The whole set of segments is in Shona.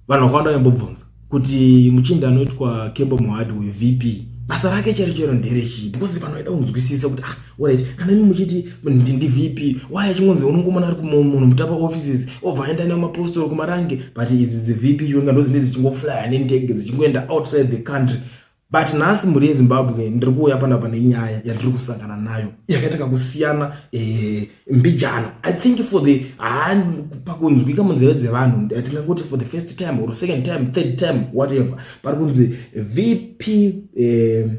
vanhu vakawanda vaimbobvunza kuti muchinda anoitwa kembo mohadi uyu vp basa rake chero chero nderechii because vanhu vaida kunzwisisa kuti ah orit kana imi muchiti ndivp why achingonzi unongomona ari kumunhu mutapa offices obva aenda nemapostori kumarange but idzi dzivp chionga ndozine dzichingoflya nentege dzichingoenda outside the country but nhasi mhuri yezimbabwe ndiri kuuya panapa nenyaya yandiri kusangana nayo yakaita kakusiyana eh, mbijana i think for the ah, pakunzwika munzeve dzevanhu tingangoti for the first time or second time third time whatever pari kunzi vp eh,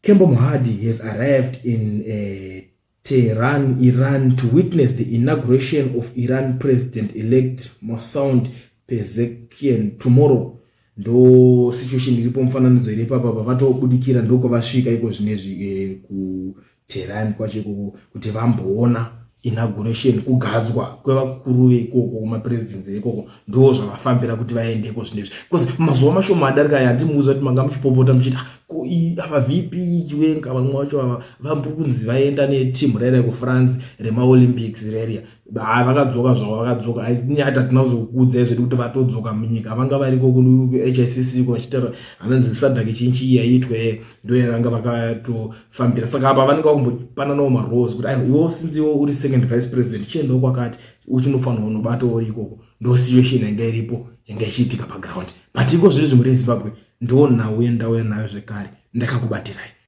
kembo muhadi has arrived in eh, Tehran, Iran, to witness the inauguration of Iran President-elect Mosound Pezeshkian tomorrow. Ndo situation iripo mufananidzo iri papa pavatobudikira ndokwavasvika iko zvinezvi eh, kuTehran kwacho ikoko kuti vamboona inauguration kugadzwa kwevakuru veikoko kumapresidency veikoko ndo zvavafambira kuti vaendeko zvinezvi bcause mazuva mashoma adarika aya andimuudza kuti manga muchipopota muchiti ah, ko ava vp chiwenga vamwe vacho ava vambo kunzi vaenda neteam rairia kufrance remaolympics rairia haa vakadzoka zvavo vakadzoka nyata tinazokuudzai zvedu kuti vatodzoka munyika vanga variko kuhicc ko vachitaura hanonzi sadhaki chinchi yaitwe ndo yavanga vakatofambira saka apa vanenge vakumbopananawo marose kuti aiwa iwo sinzi iwo uri second vice president chiendawo kwakati uchinofanirwa unobata uri ikoko ndo situation yanga iripo yanga ichiitika paground but iko zvinezvi muri zimbabwe ndoo nhau yandauya nayo zvekare ndakakubatirai